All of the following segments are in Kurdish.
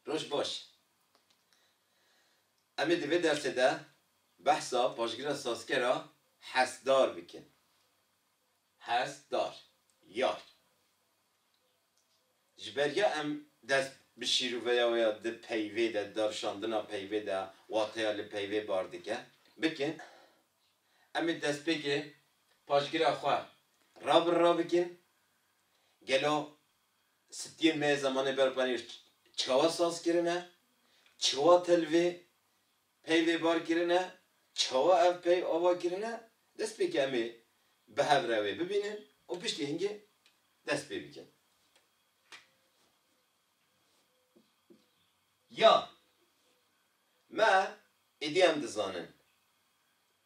Roj baş. Em ê di vê dersê de behsa paşgira sazker a hestdar bikin. Hestdar, yar. Ji ber ya em dest bi şîroveya wê ya di peyvê de, darşandina peyvê de, wateya li peyvê bar dike, bikin, em ê destpêkê paşgira xwe ra bi ra bikin, gelo Stiyên me yê zemanê berxwedînê çawa saz kirine, çiwa tel vê peyvê bar kirine, çawa ev pey ava kirine, dest pê ke em ê bi hev re wê bibînin û piştî hingê dest pê bikin. Ya me êdî em dizanin.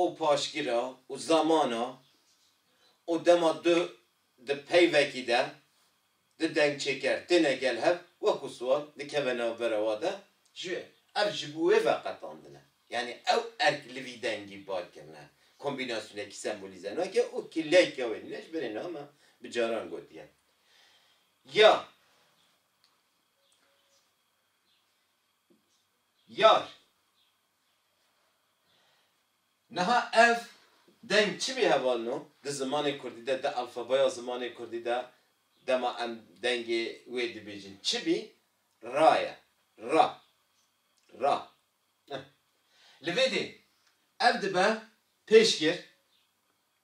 û paşgira û zamana û dema du di peyvekî de di dengçêker têne gel hev wek û siwar dikeve navbera wa de ji ev ji bo wê ve qetandine. Yanî ew erk li vî dengî bar kirine kombînasyonekî sembolîze nake û kileka wê nîne ji berê niha me bi caran gotiye ya yar Niha ev deng çimî heval no, di zimanê kurdî de, di alfabeya zimanê kurdî de dema em dengê wê dibêjin çimî ra ye, ra, ra. Li vê dê ev dibe pêşgir,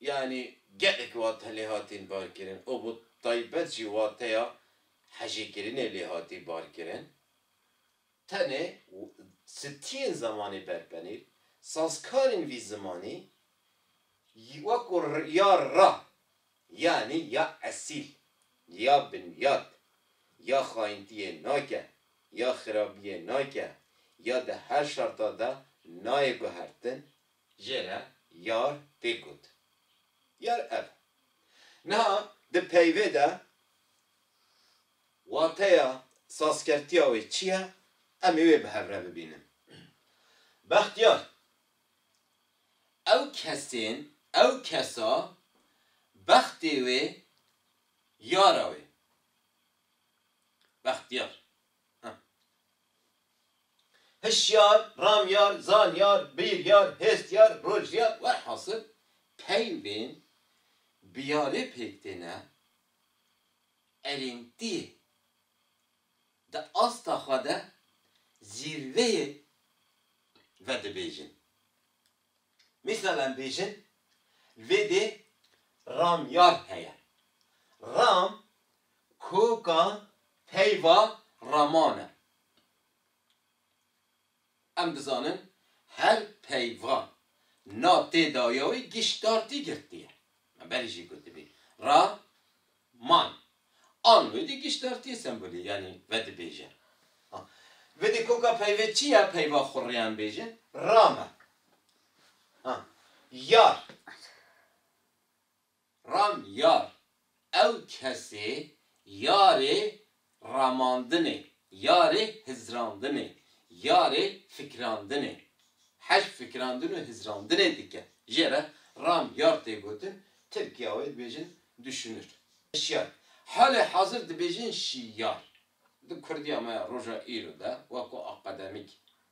Yanî gelek wate lê hatin barkirin û bi taybet jî wateya hejîkirinê lê hatî barkirin. Tenê stiyên zemanî berpenîr, sazkarên vî zimanî wekû ya ra yanî ya esîl, ya binyat, ya xayintiyê nake, ya xirabiyê nake, ya di her şerta de nayê guhertin, Jê re yar tê got. Yar ev. Niha di peyvê de wateya sazkertiya wê çi ye em ê wê bi hev re bibînin. Bextiyar, Ew kesên, ew kesa bextê wê yara wê. Bextiyar, Hişyar, ramyar, zanyar, bîryar, hêstiyar, rojiyar welhasil peyvên biyarê pêk têne erêntiyê di asta xwe de zîrveyê vedibêjin. Mîsal em bêjin li vê dê ramyar heye. Ram koka peyva raman e. Em dizanin her peyva na tê daye wê giştdartî girtî ye. Me berî jî gotibî. Ra. Man. An wêdî giştartiyê sembolî yanî vedibêje. A. Vidî koka peyve çi ya peyva xwe rêyan bêje? Rame. A. Yar. Ram yar. Ew kesê yarê ramandinê, yarê hizrandinê, yarê fikrandinê, hej fikrandin û hizrandinê dike. Jê re ram yar tê gotin, Tirkîya wê dibêjin duşunir. Şiyar, halê hazir dibêjin şiyar. Di kurdîya me ya roja îro de weko akademîk,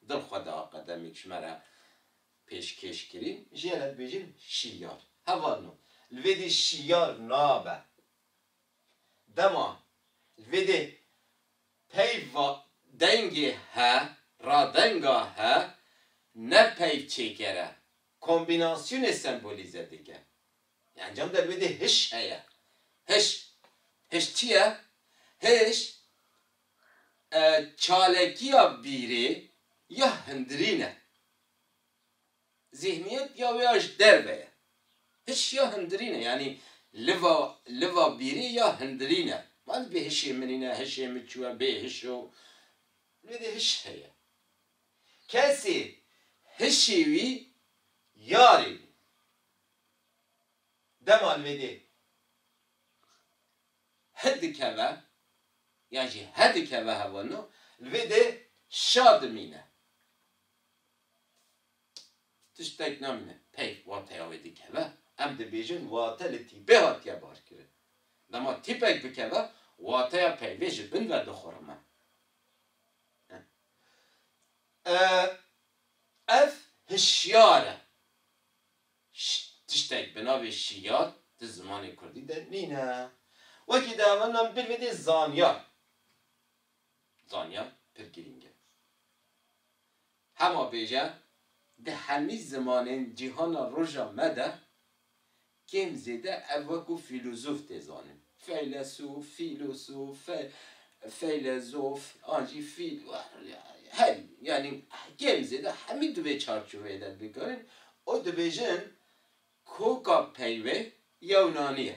dil xwe de akademîk ji me re pêşkêş kirîn, jê re dibêjin şiyar. Hevalno, li vê dî şiyar nabe. Dema li vê dê peyv va dengê he ra denga he ne peyv çêkere, kombînasyonê sembolîze dike. Yê encam de li vê dê hiş heye. Hiş, hiş çi ye? Hiş çalekiya bîrê ya hindirîn e. Zîhniyet ya wê ya ji derve ye. Hiş ya hindirîn e. Yanî liva liva bîrê ya hindirîn e. Ma dibê hişê min îne, hişê min çûye, bê hiş o. Li wê de hiş heye. Kesê hişê wî yarê wî. Dema li wê de hi dikeve yan jî he dikeve hevano, li wê de şa dimîne. Tiştek namîne peyv wateya wê dikeve. Em dibêjin wate li tîpê hatiye barkirin. Dema tîpek bikeve, wateya peyvê ji bin ve dixurime. Ev hişyar e. Tiştek bi navê şiyar di zimanê kurdî de nîne. Wekî diavandinan bîr bidê zanyar. zanyan pir girîng e. Hema bêje di hemî zimanên cîhana roja me de kêm zêde ev wekû fîlûzof tê zanin. Feylesûf, fîlûsûf, fe feylezof an jî fîl herî yanî kêm zêde hemî di vê çarçoveyê de dikarin û dibêjin koka peyvê yewnanî ye.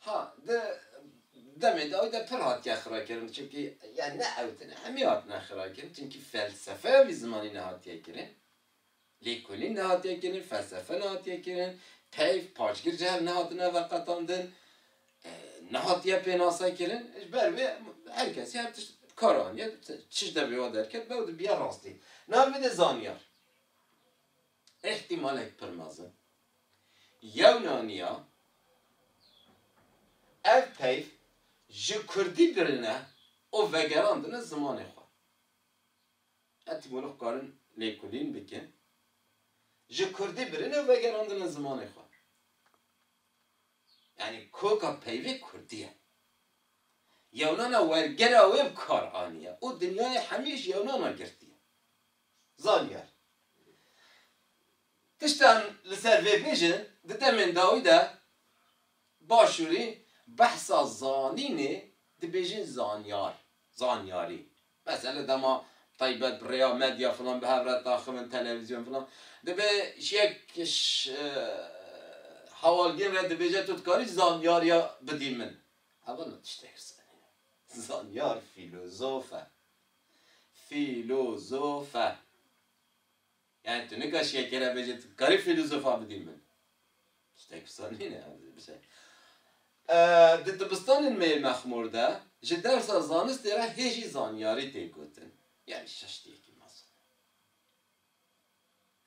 Ha, di demê dawî de pir hatiye xirakirin, çimkî ya ne ew tune, hemî hatine xirakirin, çimkî felsefeya vî zimanî nehatiye kirin, lêkolîn nehatiye kirin, felsefe nehatiye kirin, peyv, paşgir cihel nehatine veqetandin, nehatiye pênase kirin, ji ber vê her kesî her tişt bi kar aniye, tişt de vêwa derket be û dibiya rastî. Navê vê de zanyar. Îhtîmalek pir mezin, yewna niya ev peyv ji kurdî girine û vegerandine zimanê xwe. Etîmolog karin lêkolîn bikin, ji kurdî birine û vegerandine zimanê xwe. Yanî koka peyvê kurdî ye. Yewnana wergera wê bi kar aniye û dinyayê hemî ji yewnana girtiye. Zanîyar, Tiştan li ser vê bêjin di demên dawî de Başûrî behsa zanînê dibêjin zanyar, zanyarî. Mesele dema taybet bi rêya medya filan bi hev re daxivin televîzyon filan dibê yek hewalgîn re dibêje tu dikarî zanyariya bidî min. Ev ne tiştekî zanîn e. Zanyar fîlozof e. Fîlozofe. Yani tu nika şekere bêje tu karî fîlozofa bidî min. Tiştek wisa nîne bişe. Di dibistanên me yê mexmûr de ji dersa zanistê re hê jî zanyarî tê gotin. Yani şeş têkî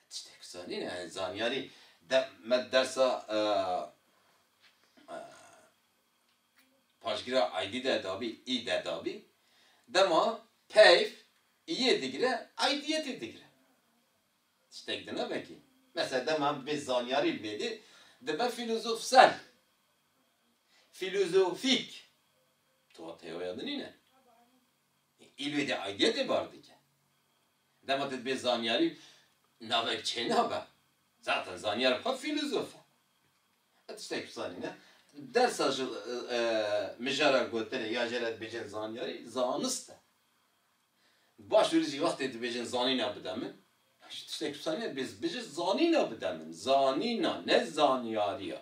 Tiştek zanîne heye zanyarî de me dersa paşgîra aydî de dabî î de dabî dema peyv îyê digire aydîyetê digire. Tiştek dine vekî. Mesela dema em dibê zanyarî li mêdê dibe fîlozofsel, fîlozofîk. Tuwa teyoya din nîne. Îlwê dê aydîyetê bar dike. Dema tu dibê zanyarî navek çênabe. Zaten zanyar xwe fîlozof e. Ez tiştek bizanî ne. Dersa ji mijara gotinê ya jê re dibêjin zanyarî, zanist e. Baş dûrî jî wextê dibêjin zanîna bide min, ji tiştek bizanî ne dibê bijî zanîna bide min. Zanîna ne zanyarî ya.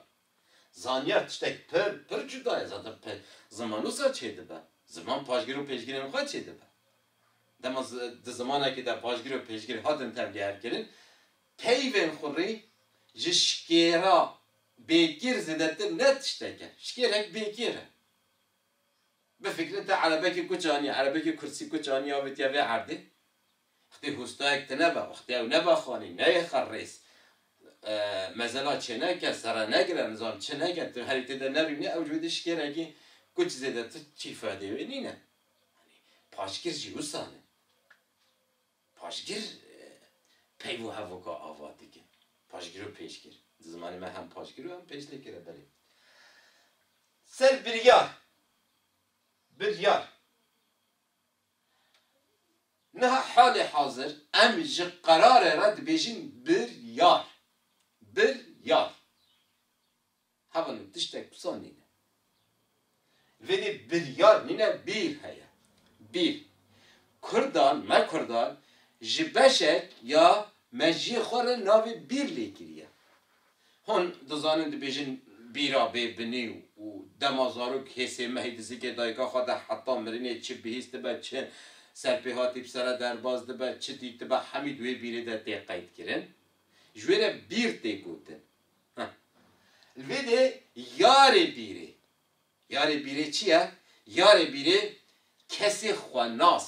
Zanyar tiştek pir, pir cuda ye. Zaten pe ziman wisa çêdibe. Ziman paşgir û pêşgirên xwe çêdibe. Dema zi di zimanekî de paşgir û pêşgir hatin tevlîherkirin, peyvên xurî ji şikêra bêkêr zêdetir ne tiştek e. Şikêrek bêkêr e. Bifikre te erebekî kuç anî, erebekî kursî kuç anî avêtiye vê erdê. Xitê hostayek tine be, xitê ew nebe xanî, neyê xer rêz. Mezena çêneke, sere negire, nizam çi neke, tu herî têde nerûnî ew ji wê dişikêrekî kuc zêde tu çî fedê wê nîne. Yanî paşgir jî wisa ne. Paşgir peyv û hevoka ava dike. Paşgir û pêşgir. Di zimanê me hem paşgir û hem pêşlêkir e belê. Ser biryar, biryar. Niha halê hazir em ji qerarê re dibêjin biryar. Biryar. Hevalên tiştek wisa nîne. Vêdî biryar nîne bîr heye. Bîr. Kurdan, me kurdan ji beşek ya meciyê xwe re navê bîr lêkiriye. Hûn dizanin dibêjin bîra bê binî û dema zarok hê sê mehî di zikê dayika xwe de heta mirinê çi bihîst dibe, çi serpêhatî bi sere derbas dibe, çi dîtibe hemî di wê bîrê de tê qeydkirin. Ji wê re bîr tê gotin. Ha. Li vê de yarê bîrê. Yarê bîrê çi ye? Yarê bîrê kesê xwenas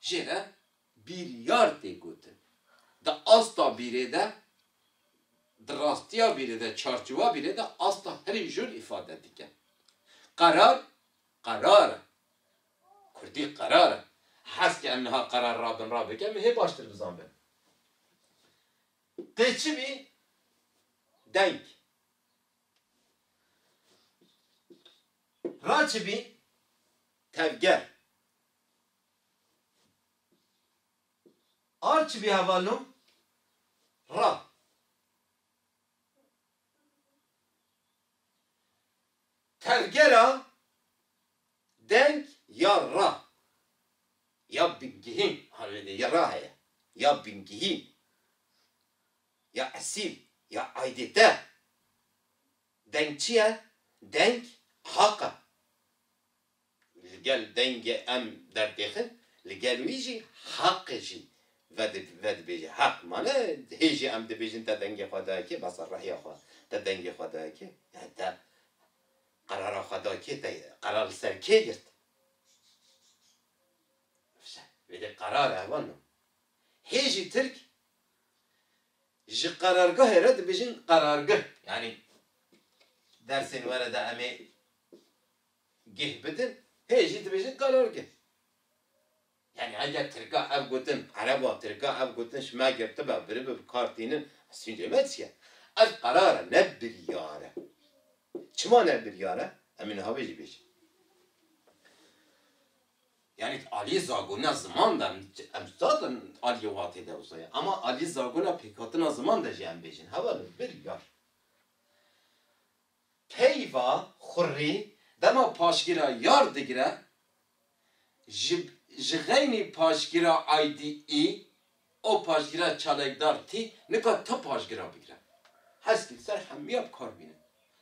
jê re bîryar tê gotin. Di asta bîrê de, di rastiya bîrê de, çarçiwa bîrê de asta herî jûr îfade dike. Qerar, qerar e. Kurdî qerar e. Heskê em niha qerar rabin rabek em ê hê baştir bizanbin. Dê çi bî? Deng. Ra çi bî? Tevger. Arçivî hevalno ra tevgera deng ya ra ya bingehîn arêdî ya ra heye ya bingehîn ya esîl ya aydête deng çi ye? Deng haq e. Li gel dengê em dertêxin, li gel wî jî heqê jî vedibêje. Heq mane hê jî em dibêjin te dengê xwe daye kê, bes e rehiya xwe te dengê xwe daye kê, yani te qerara xwe da kê, te qerar li ser kê girt? Fişe, wê dê qerar e heval na. Hê jî tirk ji qerargehê re dibêjin qerargeh. Yani dersên were de em ê Geh bidin hê jî dibêjin karargeh. Yanî eger tirka ev gotin, ereba tirka ev gotin ji me girtibe, biribe bi kar tînin, ez sûcê me çi ye? Ev qerar e ne biryar e. Çima ne biryar e? Em ê niha vê jî bêjin. Yanî di aliyê zagona ziman de em zaten aliyê watê de wisa ye ema aliyê zagona pêkhatina ziman de jî em bêjin hevalin biryar. Peyva Xurrî dema paşgîra yar digire, ji ji xeynî paşgîra aydî î û paşgîra çalekdar tî nika ti paşgîra bigire. Heskî li ser hemiya bi kar bîne.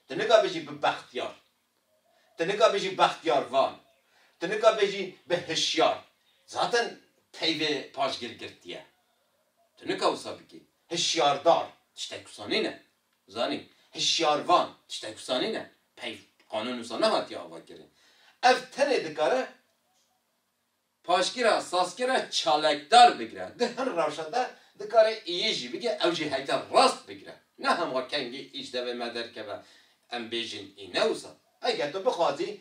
Ti nika bêjî bi bextiyar. Ti nika bêjî bextiyarvan. Ti nika bêjî bi hişyar. Zaten peyvê paşgîr girtiye. Tu nika wisa bikî. Hişyardar tiştek wisa nîne. Zanî, hişyarvan, tiştek wisa nîne, peyv, qanûn wisa nehatiye avakirin. Ev tenê dikare paşgera, sazkera çalakdar bigire. Di hin rewşa de dikare iyî jî bike, ew jî heyte rast bigire. Ne hema kengî îş devê me derkeve em bêjin î ne wisa. Eger tu bixwazî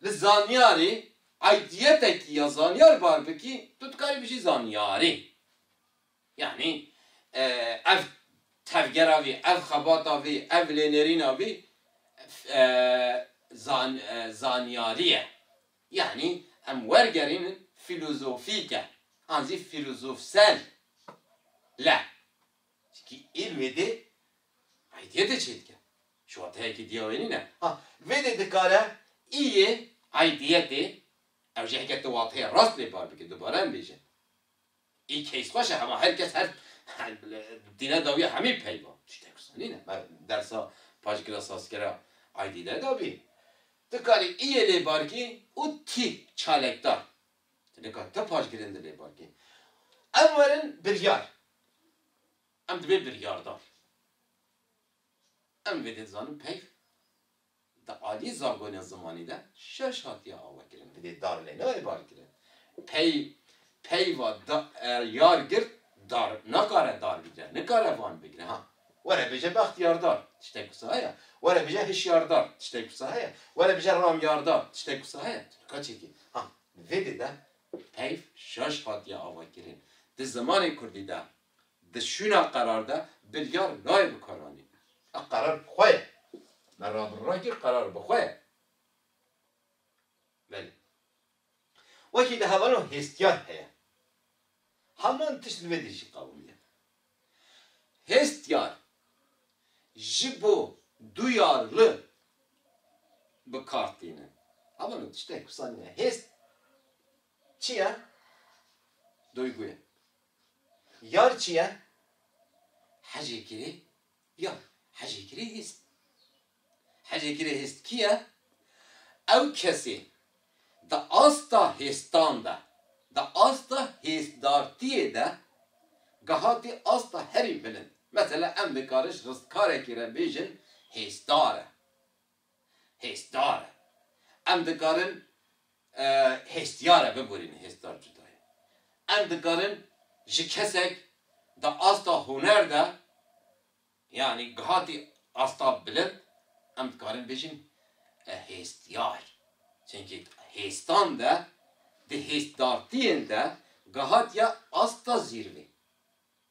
li zanyarî eydiyetekî ya zanyar bar bikî, tu dikarî bijî zanyarî. Yanî ev tevgera vî, ev xebata vî, ev lênêrîna vî zanyarî ye. Yanî em wergerînin fîlozofîk e an zî fîlozofsel le. Çinkî îlmê dê aydiyê de çê dike. Ji wateyekî diya wê nîne. Ha vê dê dikare îyê aydiyetê ew jî heke tu wateyê rast lê bar bike dubare em bêjin. Î case xweş e hema her kes her dîne dawiya hemî peyva. Tiştek wisa nîne. Me dersa paşgila sazkera aydî nedabî. Ti karî î yê lê barkî û tî çalekdar. Ti nikar ti paşgirên di lê barkî. Em werin biryar. Em dibên biryardar. Em vê dê dizanin peyv Di aliyê zangonên zimanî de şeş hatiye awekirin, divê dar lê nayê barkirin. Pey peyva da yar girt dar nakare dar bigire, nikare van bigire. Ha were bije bextiyardar, tiştek wisa heye? Were bije hişyardar, tiştek wisa heye? Were bije ramyardar, tiştek wisa heye? Tu nika çêkî. Ha li vê dê de peyv şeş hatiye awekirin. Di zimanê kurdî de Di şûna qerar de biryar nayê bikaranîn. Ev qerar bi xwe ye. Me rabin ragir qerar bi xwe ye. Belê. Wekî di hevalan hêstiyan heye. Heman tişt li vê dî jî qewim ye. Hêstiyar ji bo duyar li bi kar tînin. Heman o tiştek wisa nîne. Hêst çi ye? Duygu ye. Yar çi ye? Hecê kirê yar. Hecê kirê hêst. Hecê kirê hêst kî ye? Ew kesê di asta hêstan de, di asta hêstdartiyê de gehatî asta herî bilind. Mesela em dikarin ji ristkarekî re bêjin hêsdar e. Hêzdar e. Em dikarin hêstiyar e bibûrînin, hêzdar cuda ye. Em dikarin ji kesek di asta huner de yanî gihatî asta bilind em dikarin bêjin hêstiyar. Çimkî hêstan de di hêzdartiyên de gihatiye asta zîrvê.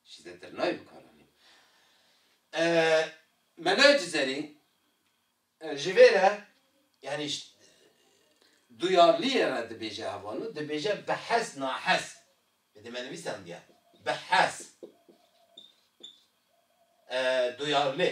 Ji zêtir nayê bi kar anîn. Mela Cizerî ji vê re yanî duyarliyê re dibêje heval û dibêje bi hez nahez bi dê me nivîsandiya bi hez duyarlê.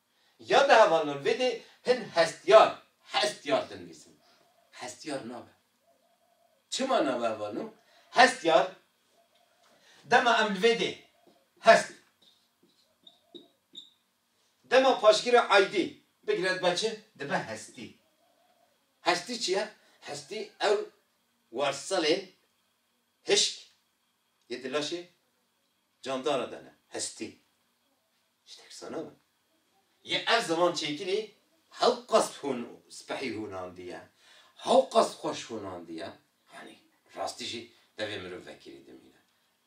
Ya di hevalnan vê dê hin hestiyar, hestiyar dinivîsin. Hestiyar nabe. Çima nabe hevalno? Hestiyar, dema em li vê dê hest, dema paşgirê aydî bigire dibe çi? Dibe hestî. Hestî çi ye? Hestî ew warselên hişk yê di laşê Candara de ne, hestî. Ji te kirsa nabe. Yê ev ziman çêkirî hewqast hûn spehî hûnandiye, hewqast xweş hûnandiye, yanî rastî jî devê mirov vekirî dimîne.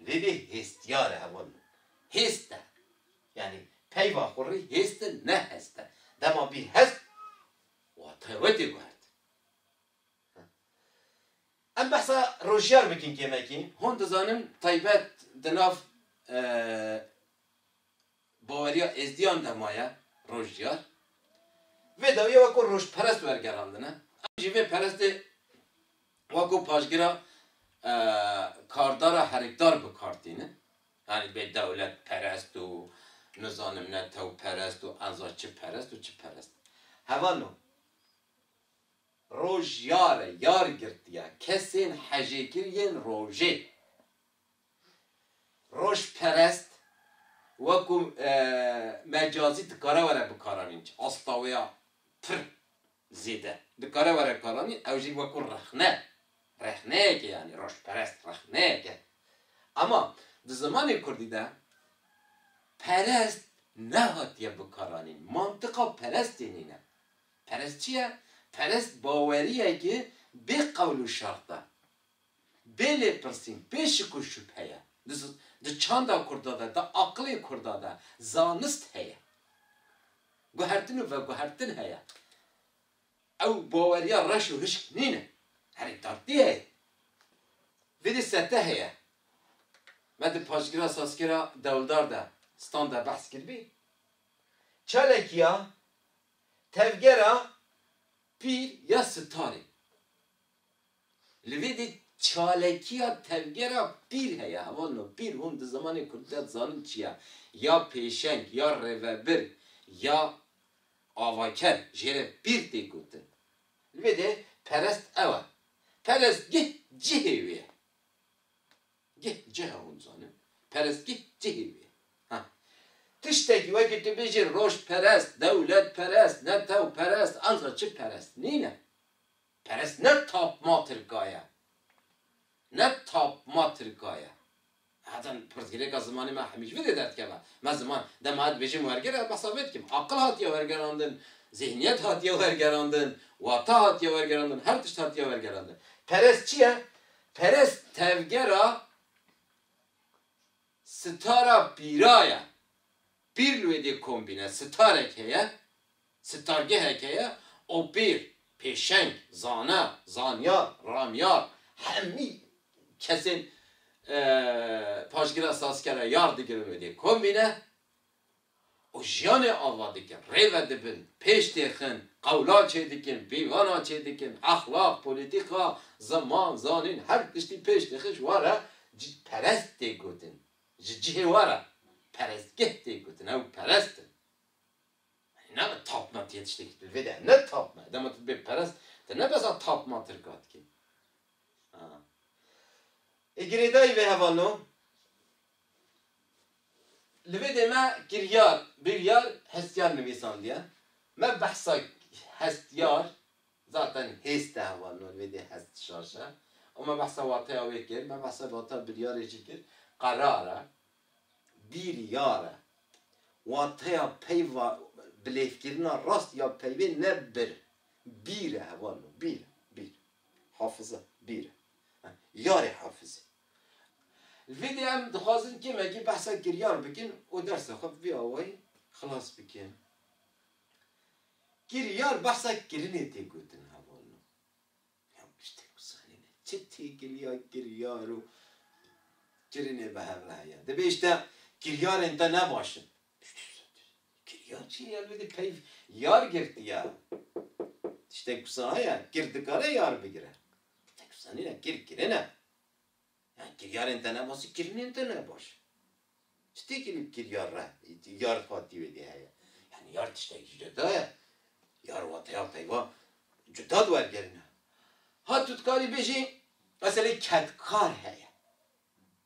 Lê vê hêstiyare heval min. Hêst e. Yanî peyva xwe rî hêst e, ne hest e. Dema bî hest, watayê we tê guhertin. Em behsa rojiyar bikin kêmekî. Hûn dizanin taybet di nav baweriya êzdiyan de maye rojiyar. Vê dawiyê weko rojperest wergerandine. Em jî vê perestê weko paşgira kardara herikdar bi kar tînin. Yanî bê dewletperest û nizanim netewperest û enza çi perest û çi perest. Heval o. Rojiyare yar girtiya kesên hejêkir yên rojê. Rojperest weko mecazî dikare were bikaranîn ji astaweya pir zêde dikare were bikaranîn ew jî weko rexne rexneyeke yanî rojperest rexneyeke ema di zimanê kurdî de perest nehatiye bikaranîn mantiqa perestê nîne. Perest çi ye? Perest baweriyeke bê qewl û şert e, bê lêpirsîn, bê şik û şubhe ye. Di çanda kurda de, di aqilê kurda de zanist heye. Guhertin û veguhertin heye. Ew baweriya reş û hişk nîne. Herî tartî heye. Vê dê sete heye. Me di paşgira sazkera dewldar de, stan de behs kiribî. Çalakîya Tevgera Pîr ya Sitarê Li vê de çalekiya tevgera pîr heye, heval no pîr hûn di zimanê kurdî de dizanin çi ye, ya pêşeng, ya rêvebir, ya avaker jê re pîr tê gotin. Li vê de perest ew e. Perestgeh cihê wê ye. Geh ceha hûn zanin perestgeh cihê wê ye. Ha. Tiştekî wekî tu bêjî rojperest, dewletperest, netewperest anca çi perest nîne. Perest ne tapma tirka ye. Ne tapma tirka ye. Heta pirsgirêka zimanê me hemîş vi dê derdkeve. Me ziman dema dibêjim werger ez behsa vê dikim. Aqil hatiye wergerandin, zîhniyet hatiye wergerandin, wata hatiye wergerandin, her tişt hatiye wergerandin. Perest çi ye? Perest tevgera sitara pîra ye. Pîr li wê dê kombîne sitarek heye, sitargehek heye û pîr, pêşeng, zana, zanyar, ramyar hemî kesên paşgira sazkera yar digirin wê dê kombîne. û jiyanê ava dikin, rê vedibin, pêş têxin, qewla çêdikin, pîvana çêdikin, exlaq, polîtîka, ziman, zanîn, her tiştî pêş têxin ji wan re cîhperest tê gotin. Ji cihê wan re perestgeh tê gotin, ew perest in. Yanî nabe tapme tu yê tiştekî tu li vê de ye, ne tapme. Dema tu dibê perest, tu ne bes a tapma tirka dikî. Ê girêdayî vê hevalno. Li vê dê me kiryar, biryar, hestiyar nivîsandiye. Me behsa hestiyar, zaten hêst e heval no, li vê dê hest şaş e. Û me behsa wateya wê kir, me behsa wateya biryarê jî kir. Qerar e, biryar e. Wateya peyva bilêvkirina rast ya peyvê ne bir, bîr e heval no, bîr e, bîr. Hafize, bîr e. Yarê hafizî. Li vê dê em dixwazin kêmekî behsa kiryar bikin û dersa xwe bi vî awayî xilas bikin. Kiryar behsa kirinê tê gotin heval no. Ya piştî ku zanîne çi têkiliya kiryar û kirinê bi hev re heye. Dibê îşte kiryarên te ne baş in. Piştî zanîne kiryar çi ye? Ya li vê dê peyv yar girtiye. Tiştek wisa heye kir dikare yar bigire. Bi teksanî ne kir kirin e. Yan kiryarên te ne baş kirinên te ne baş. Çi têkî li kiryar re yar xwatî wê dê heye. Yan yar tiştekî cuda ye. Yar wateya peyva cuda di wergerî ne. Ha tu dikarî bêjî meselê kedkar heye.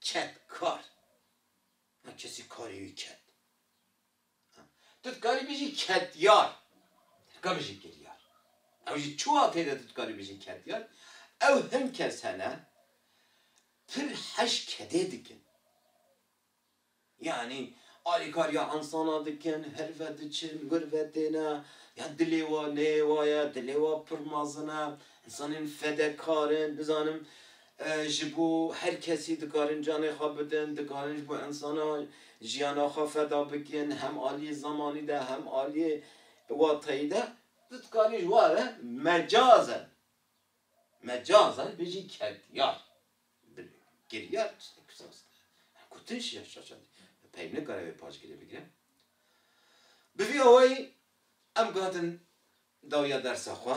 Kedkar. Yan kesî karê wî ked. Tu dikarî bijî ketyar, ka bijî kiryar. Ew jî çiwa têde tu dikarî bijî ketyar? Ew hin kes hene pir heş kedê dikin. Yanî alîkariya insana dikin, her ve diçin, wir ve têne, ya dilê wa neyê wa ye, dilê wa pir mezin e, insanên fedekar in, nizanim Ji bo her kesî dikarin canê xwe bidin, dikarin ji bo insana jiyana xwe feda bikin, hem aliyê zemanî de hem aliyê watayî de. Tu dikarî ji were mecazen, mecazen bijî kedyar, giryar tiştek saz dibe. Gotin şiya şaşandî pey nikare vê paşgirê bigire. Bi vî awayî em guhatin dawiya dersa xwe.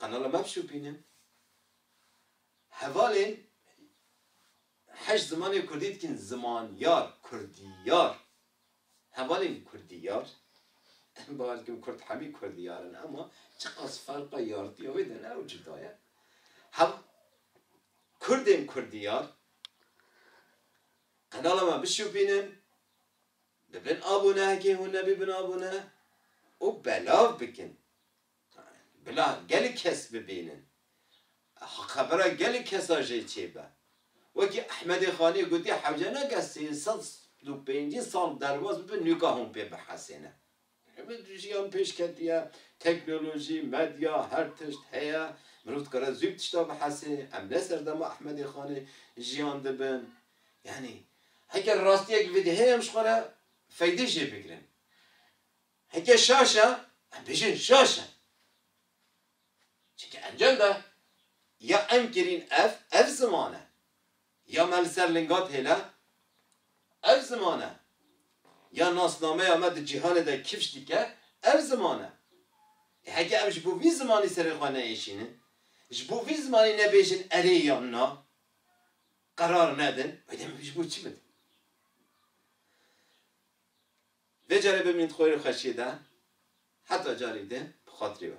Qanala me bişopînin. Hevalên heşt zimanê kurdî dikîn zimanyar, kurdîyar. Hevalên kurdîyar, em bawer dikin kurd hemî kurdîyar in ema çiqas ferqa yartîya wê de ne ew cuda ye. Hev kurdên kurdîyar qanala me bişopînin, bibin abone heke hûn nebîbin abone û belav bikin. Bila gelek kes bibînin. Xebera gelek kesa jê çêbe. Wekî Ehmedê Xanê gotî hewce nake sê sed û pêncî sal derbas bibe nûka hûn pê bihesêne. Jiyan pêş ketiye, teknolojî, medya, her tişt heye. Mirov dikare zû bi tişta bihesê. Em ne serdema Ehmedê Xanê jiyan dibin. Yanî heger rastiyek vedê heye em ji xwe re feydê jê bigirin. Heke şaş e, em bêjin şaş e. Çimkî encam de ya em kirîn ev, ev ziman e. Ya me li ser linga têle, ev ziman e. Ya nasnameya me di cîhanê de kifş dike, ev ziman e. Ê heke em ji bo vî zimanî serê xwe neêşînin, ji bo vî zimanî nebêjin erê yan na, qerar nedin, wê demê ji bo çi bidin? Vê carê bimîn xwêr û xeşiyê de heta carî din bi xatirê we.